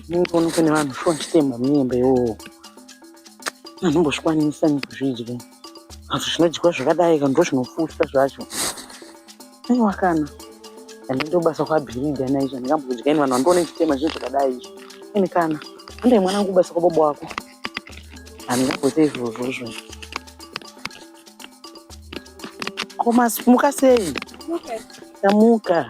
Nikuona kune vanhu fonchitema miyembe yoo anombozvikwanisa nekuzvidya asi zvinodyiwa zvakadai ka ndozvinofusa zvacho aiwa kana and ndobasa kwabhirida naizvo ndingambodya ini vanhu vandione ndichitema zvinhu zvakadai izvo ini kana handei mwana wangu kubasa kwababa wako handingamboite izvozvo izvo komas muka sei tamuka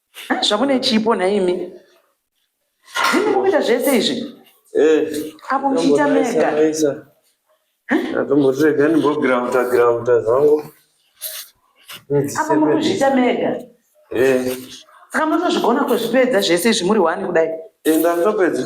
Haa zvamune chipo nhaimi. Ndimi mukuita zvese izvi. Eh. Apo muchiita mega. Atombotirega ndimbogirawuta girawuta zvangu. Apo muri kuzviita mega. Eh. Saka munotozvigona kuzvipedza zvese izvi muri wani kudai. Eh, ndandopedza.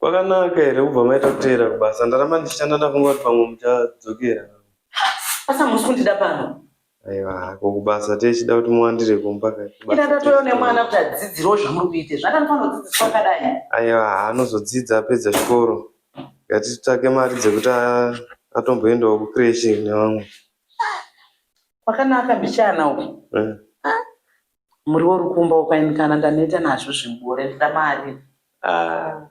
Kwakanaka here kubva maita kuteera kubasa ndaramba ndichishanda ndafungoti pamwe muchadzokera. Asa musi kundida pano. Aiwa ko kubasa tichida kuti muwandire kumba ka. Ina ndatoyo nemwana kuti adzidzirewo zvamuri kuita zvana anofanira kudzidziswa akadai. Aiwa anozodzidza apedza chikoro. Ngatitsvake mari dzekuti atomboendawo kucreche nevamwe. Kwakanaka mbichana uku. Eh. Ah. Muriwo rukumba ukaini kana ndaneta nazvo zvibore ndida mari. Ah.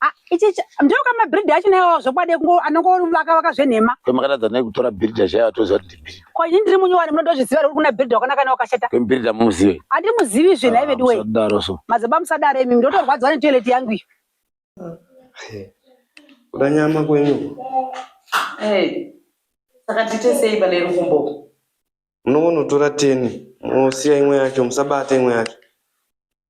Ah, ichi ndiko kama biridi acho nayo zvokwadi anongovaka vaka zvenhema kwemakatadza nei kutora biridi zvayo atoziva kuti ndibiridi ko ini ndiri munyowani munotozviziva uri kuna biridi wakanaka naye wakashata kwemubiridi amumuzive handiri muzivi zve nhai ah, veduwe musadaro so madzaba musadaro imi ndotorwadziwa netoilet yangu iyo kuda nyama kwenyu saka tiite sei pane rukumbo munovonotora teni mosiya imwe yacho musabata imwe yacho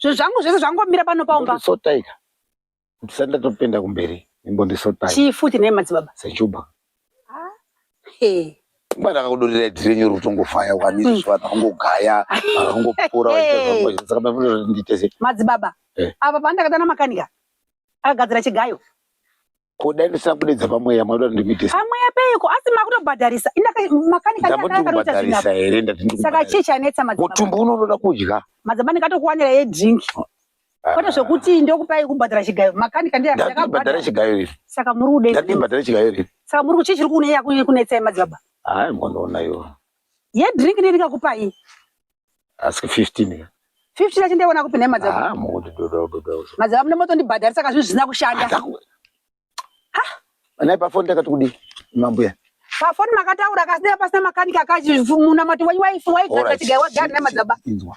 zvinhu zvangu zvese zvangomira pano paumba so tiger ndisati ndatopinda kumberi imbondisotai chii futi nhai madzibaba sechuba mwana akakudurira dhiri nyoro kutongofaya ukwanisa mm. vanhu vakangogaya vakangopura saka mafunira kuti nditese madzibaba eh. apa pandakatana makanika akagadzira chigayo kuda ndisabude pamweya mwaida ndimite pamweya peiko asi makutobhadharisa makanikaaabhadharisa here ndatisaka chii chanetsa mutumbi unonoda kudya madzibaba ndikatokuwanira ye drink ah. kwete zvekuti ndokupai kubhadhara chigayo makanika ndiyabhadhara chigayo iri saka muri kude ndibhadhara chigayo iri saka muri kuchii chiri kunetsai madzibaba hayi mwandoona iwo Ye drink ndiye ndikakupai. Asi 15 ya. 15 yacho ndaiona kupi nhema dzako? Ah, mukoti doda doda. Madzava mune moto ndibhadhari saka zvinhu zvisina kushanda. Ha? Ana pa phone takati kudi mambuya. Pa phone makataura kasi dai pasina makanika akachi munamato wenyu waifu waigara chigai wagara nhema dzaba. Inzwa.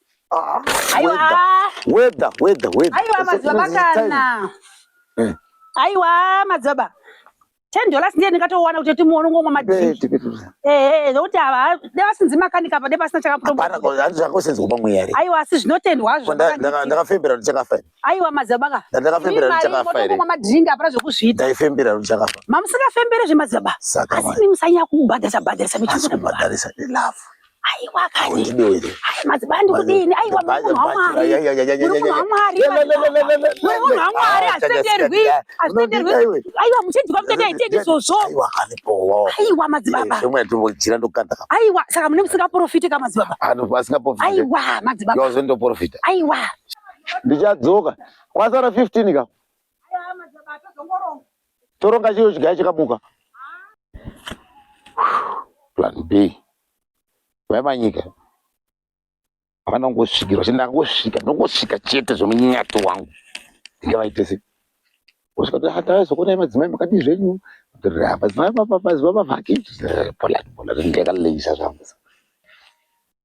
Aiwa. Weda, weda, weda. Aiwa madzibaba kana. Eh. Aiwa madzibaba. Ten dollars ndiye ndingatowana kuti timuone ngomwa madhiki. Eh, eh, zvokuti ava devasinzi makanika apa depasina chakamutombo. Hapana, hanzi zvakosenzi kuba mweya here. Aiwa, asi zvinotendwa hazvo. Ndakafembera kuti chakafa here. Aiwa madzibaba ka. Ndakafembera kuti chakafa here. Ngomwa madhiki hapana zvekuzviita. Ndaifembera kuti chakafa. Mamusingafembere zvemadzibaba. Asi musanya kubhadharisa bhadharisa. Asi kubhadharisa ilove. Aiwa kani. Ai madzibaba ndikudini? Aiwa munhu waMwari. Munhu waMwari. Munhu waMwari asitenderwi. Asitenderwi. Aiwa muchidya mutenda itendi zvozvo. Aiwa kani powo. Aiwa madzibaba. Zvimwe ndingochira ndokanda. Aiwa saka mune musinga profit ka madzibaba. Ano pasinga profit. Aiwa madzibaba. Yozo ndo profit. Aiwa. Ndichadzoka. Kwasara 15 ka. Aiwa madzibaba tozongoronga. toronga chiro chigaya chakamuka plan b vaimanyika vanongosvikirwa chete ndangosvika ndongosvika chete zvomunyati wangu inge vaitese kusvika kuti hatazokona madzimai makati zvenyu madzimai mapapazivamavhaki polan polan ndakaleisa zvangu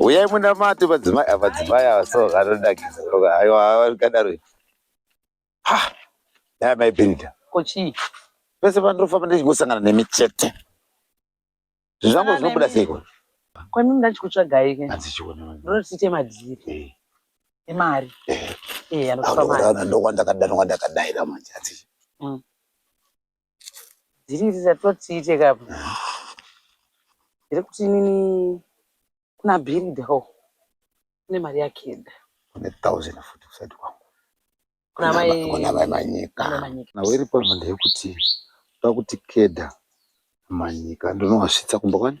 uyai munamate madzimai ava madzimai ava so anonakidza roka aiwa vakadaro ha dai mai bhiridha ko chii pese pandinofamba ndichingosangana nemi chete zvinhu zvangu zvinobuda seiko kwani ndachikutsvagai ke ndinotiite madhiri eh. emari eh. eh, ndokwandakadaira manje adzichi mm. Dzivirira totsiite kapo. Ndiri kuti inini kuna Bhiridha ho. Kune mari yakenda. Kune 1000 futi kusati kwangu. Kuna mai kuna mai manyika. Na wiri pamwe ndiri kuti pakuti keda manyika ndonovasvitsa kumba kwani?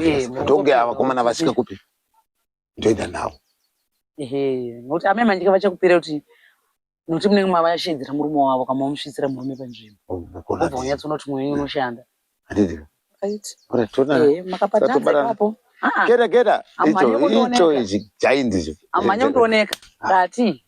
Yes, ndoge ava komana vasvika kupi ndoenda navo nokuti amai mandika vachakupira kuti nokuti munenge mavashedzera murume wavo kama wamusvitsira murume panzvimbo obva oh, wanyatsoona kuti mwenyu unoshanda makapatadzapo keda keda icho ichi jaindi amhanya kutooneka kati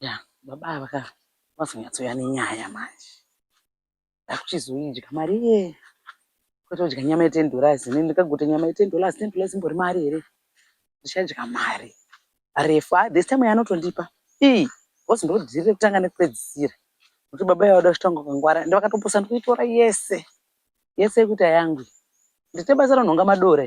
ya baba ava ka vazonyatsouya nenyaya manje akuchizoidya mari ye kwetodya nyama yeten dollars ini ndikaguta nyama yeten dollars ten dollars imbori mari here ndichadya mari refu a ah, this time yanotondipa ii bcause ndodhirire kutanga nekupedzisira kuti baba yavada kuchitanga kangwara ndivakatopusa ndikuitora yese yese yekuti ayangu ndite basa ronhonga madore